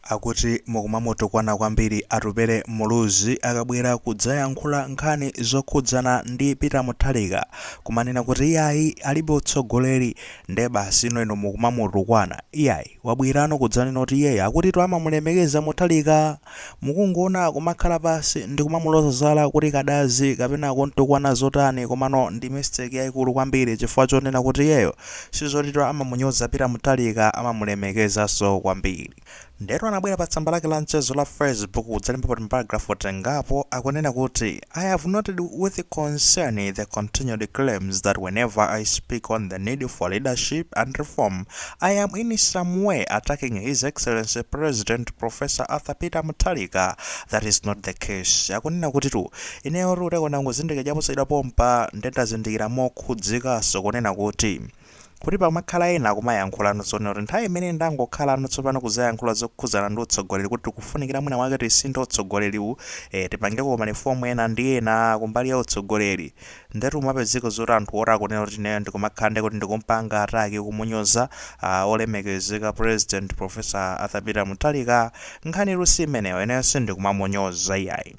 Akuti mukumamutukwana kwambiri Atupele Muluzi akabwera kudzayankhula nkhani zokhudzana ndi Peter Mutharika kumanena kuti iyayi alibe utsogoleri nde basi inoyo mukumamutukwana iyayi wabwerano kudzanena kuti iyeyo akuti amamulemekeza Mutharika mukungoona kumakhala pansi ndikumamuloza zala kumukadazi kapena kumtukwana zotani komano ndi mistake yaikulu kwambiri chifukwa chonena kuti iyeyo Sizoti amamunyoza Peter Muthalika amamulemekezaso kwambiri. Ndetu anabwera pa tsamba lake la mchezo la Facebook kudzalembapo timaparagraph tingapo akunena kuti I have noted with concern the continued claims that whenever I speak on the need for leadership and reform I am in some way attacking His Excellency President Professor Arthur Peter Muthalika that is not the case akunena kutitu ineyotu ndikungozindikira chaposachedwa pompa nde ndazindikira mo khudzikanso kunena kuti, kuti pamakhala ena akumayankhulano zonena kuti nthawi imene ndangokhalano tsopano kudzayankhula zokhudzana ndi utsogoleri kuti tikufunikira mwina mwake tisinthe utsogoleriwu, eh, tipangeko marifomu ena ndi ena kumbali ya utsogoleri. Ndetu mapezeka zoti anthu oti akunena kuti ineyo ndikumakhala ndikuti ndikumpanga attack kumunyoza, ah, olemekezeka President Professor Arthur Peter Mutharika, nkhanitu si imeneyo, ineyo sindikumamunyoza iyayi.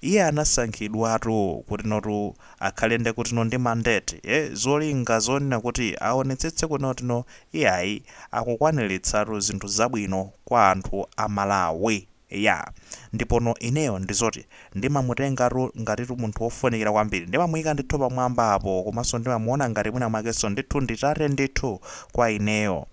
Iye anasankhidwatu kutinotu akhale nde kutino ndi mandate eh zolinga zonena kuti awonetsetse kunena kutino iyayi akukwanilitsatu zinthu zabwino kwa anthu a Malawi iyaa ndipono ineyo ndizoti ndimamutengatu ngatitu munthu wofunikira kwambiri ndimamuyika ndithu pamwamba apo komaso ndimamuona ngati mwina mwakeso ndithu ndi tate ndithu kwa ineyo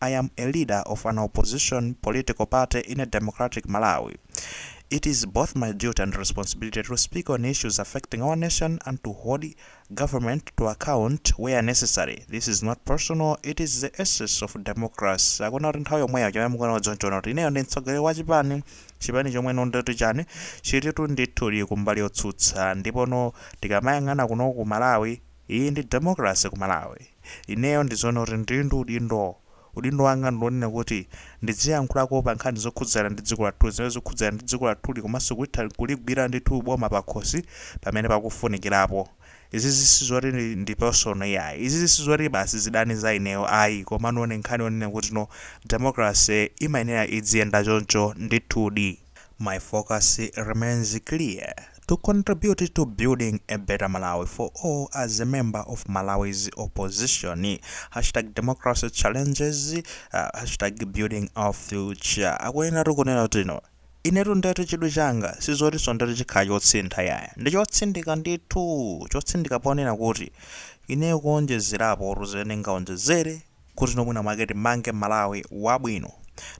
I am a leader of an opposition political party in a democratic Malawi. It is both my duty and responsibility to speak on issues affecting our nation and to hold government to account where necessary. This is not personal, it is the essence of democracy. Akunena kuti nthawi yomweyo chomwe mukuyenera kudziwa nchonena kuti ineyo ndi mtsogoleri wa chipani chipani chomwe no ndoti chani chilitu ndithu kumbali yotsutsa ndipono tikamayang'ana kuno ku Malawi Iyi ndi democracy ku Malawi. Ineyo ndi zonena kuti ndili ndi udindo. Udindo wanga ndi wonena kuti ndidziyankhulako pa nkhani zokhudzana ndi dziko lathuli, zimene zikukhudzana ndi dziko lathuli komanso kuitha kuligwira ndithu boma pakhosi pamene pakufunikirapo. Izizi sizoti ndi personal iyayi. Izizi sizoti basi zidani za ineyo ayi komano ni nkhani yonena kutino democracy imayenera idziyenda choncho ndithudi. My focus remains clear, to contribute to building a better Malawi for all as a member of Malawi's opposition, hashtag democracy challenges, hashtag building our future. Akuyenatu kunena kuti no. Inetu ndetu chidwi changa sizotinso ndetu chikhala chosintha yaya. Ndi chotsindika ndithu, chotsindika ponena kuti ineyo kuonjezerapo tu zimene ndingaonjezere, kuti no mwina mwake timange Malawi wabwino.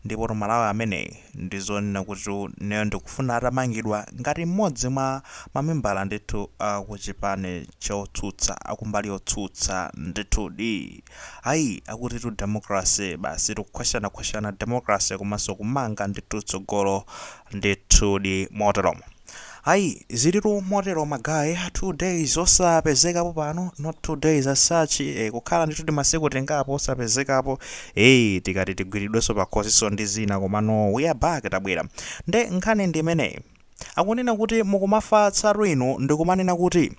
Ndipotu Malawi ameneyi ndi zoona kuti ineyo ndikufuna atamangidwa ngati m'modzi mwa mamembala ndithu a ku chipani chotsutsa, a kumbali yotsutsa ndithudi. Ayi, akutitu democracy basi tikukhwachanakhwachana democracy komanso kumanga ndithu tsogolo ndithudi moteromo. Ayi, ziritu motero ma guy, two days osapezekapo pano, not two days as such, eh, kukhala ndithu timasiku tingapo osapezekapo, eh, tikati tigwiridwenso pakhosinso ndi zina, komano we are back, tabwera. Nde nkhani ndi imeneyi. Akunena kuti mukumafatsatu inu ndikumanena kuti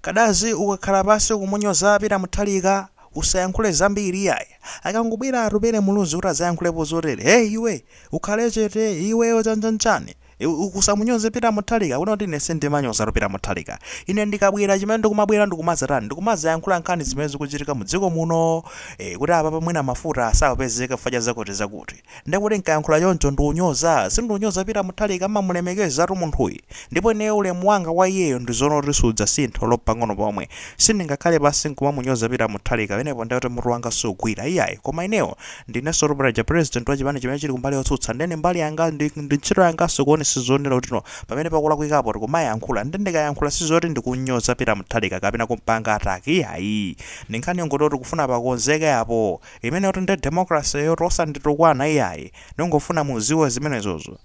Kadazi ukakhala pansi kumunyoza Peter Mutharika usayankhule zambiri iyayi, akangobwera Atupele Muluzi kuti adzayankhulepo zotere, heyi iwe, ukhale chete iwe, chanchanchani. Ukusamunyoze Peter Muthalika kunena kuti ine sindimanyozatu Peter Muthalika. Ine ndikabwera chimene ndikumabwera ndikumadzatani ndikumadzayankhula nkhani zimene zikuchitika mu dziko muno eh, kuti apapa mwina mafuta sakupezeka chifukwa cha zakuti zakuti. Ndiye kuti nkayankhula choncho ndikunyoza sindinyoza Peter Muthalika ndimamulemekezatu munthuyi ndipo ineyo ulemu wanga kwa iyeyo ndizoona kuti sudzasintha olo mpang'ono pomwe. Sindingakhale pansi nkumamunyoza Peter Muthalika pamenepo ndiye kuti mutu wanga sugwira iyayi koma ineyo Ndineso braza, president wa chipani chimene chili kumbali yotsutsa, nde ndi mbali yanga ndi ndi ntchito yanganso kuonetsetsa zonena kuti no pamene pakulakwikapo tikumayankhula, nde ndikayankhula sizoti ndikum'nyoza Peter Mutharika kapena kum'panga attack iyayi, ndi nkhani yongoti oh tikufuna pakonzeke apo, imeneyotu nde democracy yotu osanditukwana iyayi, ndingofuna mudziwe zimenezozo.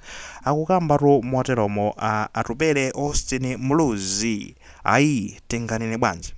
Akukambatu moteromo a Atupele Austin Muluzi. Ayi, tinganene bwanji?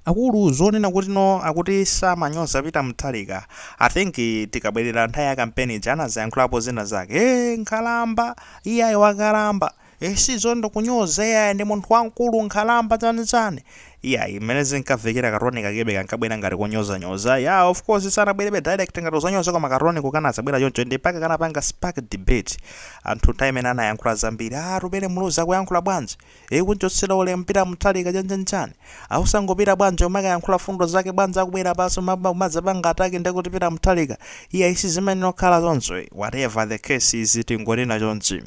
Akulu zonena kuti no akuti samanyoza Peter Muthalika I think tikabwerera nthawi ya campaign ija anazayankhulapo zina zake eeh nkhalamba iyayi wakalamba eeh sizoti kunyoza iyayi ndi munthu wamkulu nkhalamba chani chani iyayi mmene zinkavekera ka tone kakebe kankabwera ngati konyozanyoza yah of course sanabwerebe direct ngati kudzanyoza koma ka tone ko kanazabwera choncho ende mpaka kanapanga spark debate anthu nthawi imeneyo anayankhula zambiri aah Atupele Muluzi akuyankhula bwanji Ee kunchotsera ulemu Peter Muthalika chan chan chan. A osangopita bwanji kumakayankhula fundo zake bwanji akubwera apaso kumadzapanga attack ndekuti Peter Muthalika. Iyayi sizimayenera kukhala choncho ee. Whatever the case is tingonena chonchi.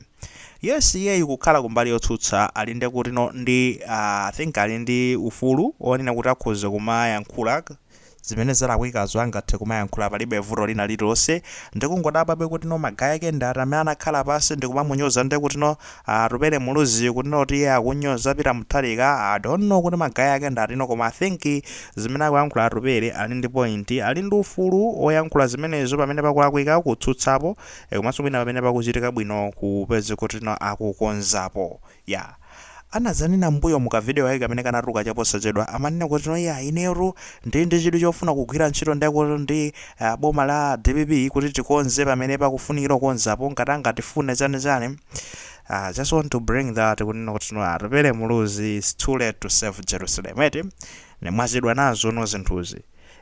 Yes iyeyu kukhala kumbali yotsutsa ali ndekutino ndi aah I think ali ndi ufulu onena kuti akhoza kumayankhula. zimene zalakwikazo angathe kumayankhula palibe vuto lina lililonse ndikungodabwabe kutino ma guy ake ndi ati amene anakhala pansi ndikumamunyoza nde kutino Atupele Muluzi kutino kuti iye akunyoza Peter Mutharika I don't know kuti ma guy ake ndi atino koma I think zimene akuyankhula Atupele ali ndi point ali ndi ufulu oyankhula zimenezo pamene pakulakwika kutsutsapo komanso mwina pamene pakuchitika bwino kupeza kutino akukonzapo Yeah. Anadzanena mmbuyomu ka video kake kamene kanatuluka cha posachedwa, amanena kuti no yeah inetu ndili ndi chidwi chofuna kugwira ntchito nde kuti ndi ah, boma la dpp kuti tikonze pamene pakufunikira kukonzapo ngati angatifune chani chani. Ah, just want to bring that kunena kuti no Atupele Muluzi it's too late to save Jerusalem eti. Nde mwachedwa nazo no zinthuzi.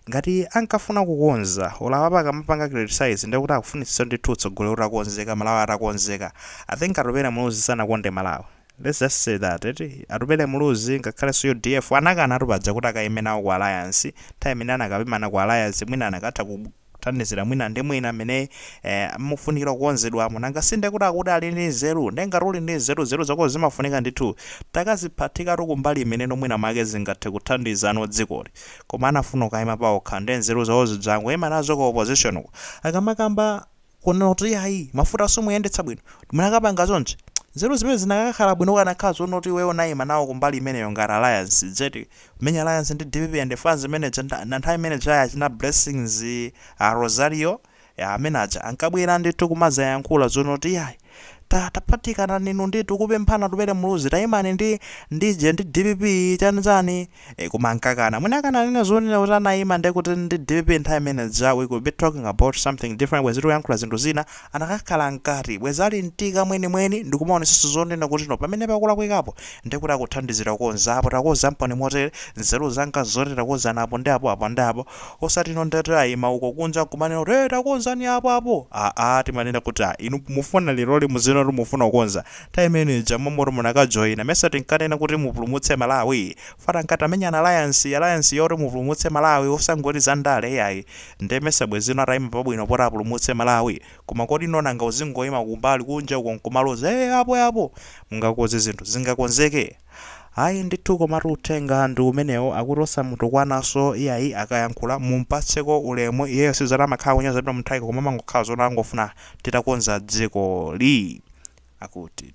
Ngati ankafuna kukonza, olo apapa akamapanga criticise ndiye kuti akufunitsitsa ndithu utsogoleri utakonzeka, Malawi atakonzeka. I think Atupele Muluzi sanakonde Malawi. Let's just say that eti. Atupele Muluzi ngakhalenso udf anakanatu paja kuti akaime nawo ku alliance, nthawi imene anakapangana ku alliance mwina anakatha ku. thandizira mwina ndi mwina mmene eh, mufunikira kukonzedwamo nanga sinde kuti akuti ali ndi nzeru nde ngati uli ndi nzeru nzeru zako zimafunika ndithu utakaziphatika kumbali imeneno mwina mwake zingathe kuthandiza no dzikoli koma anafuna kuyima paokha nde nzeru zawo zizingoima nazo ku opposition uko akamakamba kunena kuti ayi mafuta simuyendetsa bwino munakapanga zonse nzeru zimene zinakakhala bwino ukanakhala zonoti iweyo unayima nawo kumbali imeneyo ngati alliance dzeti Kumenya alliance ndi dpp and phase imeneja nda nda nthawi imeneja ya achina blessings a Rosario amene aja ankabwera ndithu kumazayankhula zonoti yayi taphatikanani inu ndithu kupempha Atupele Muluzi tayimani nde kuti ndi dpp chani chani e, koma ankakana mwina akanakhala zonena kuti anayima ndekuti ndi dpp nthawi imeneja we could be talking about something different bwezi tikuyankhula zinthu zina anakakhala mkati, bwezi ali mtika mwenimweni ndikumaonesaso zonena kuti no pamene pakulakwikapo ndiye kuti akuthandizira kukonza apo takonzamponi motere, nzeru zanga zoti takonzani apo ndi apo apo ndi apo, osati no ndiye ataima uko kunja nkumanena kuti hey takonzani apo apo aa timanena kuti ah inu mufuna leroli muzinena kuti mufuna kukonza nthawi imene ija mmomo munakajoina mesa tinkanena kuti mupulumutse Malawi pangani ngati tamenya alliance alliance yoti mupulumutse Malawi osangoti za ndale iyayi Nde mesa bwenzi no ataima pabwino poti apulumutse Malawi? Koma kodi no nanga uzingoima kumbali kunja uko nkumaloza ee apo eapo! Mungakonze zinthu zingakonzeke? Ayi ndithu komatu uthenga ndi umenewo akuti osamutukwananso iyayi akayankhula mumpatseko ulemu iyeyo si zoti amakhala akunyoza Peter Mutharika koma amangokhala zoona angofuna titakonza dzikoli akuti.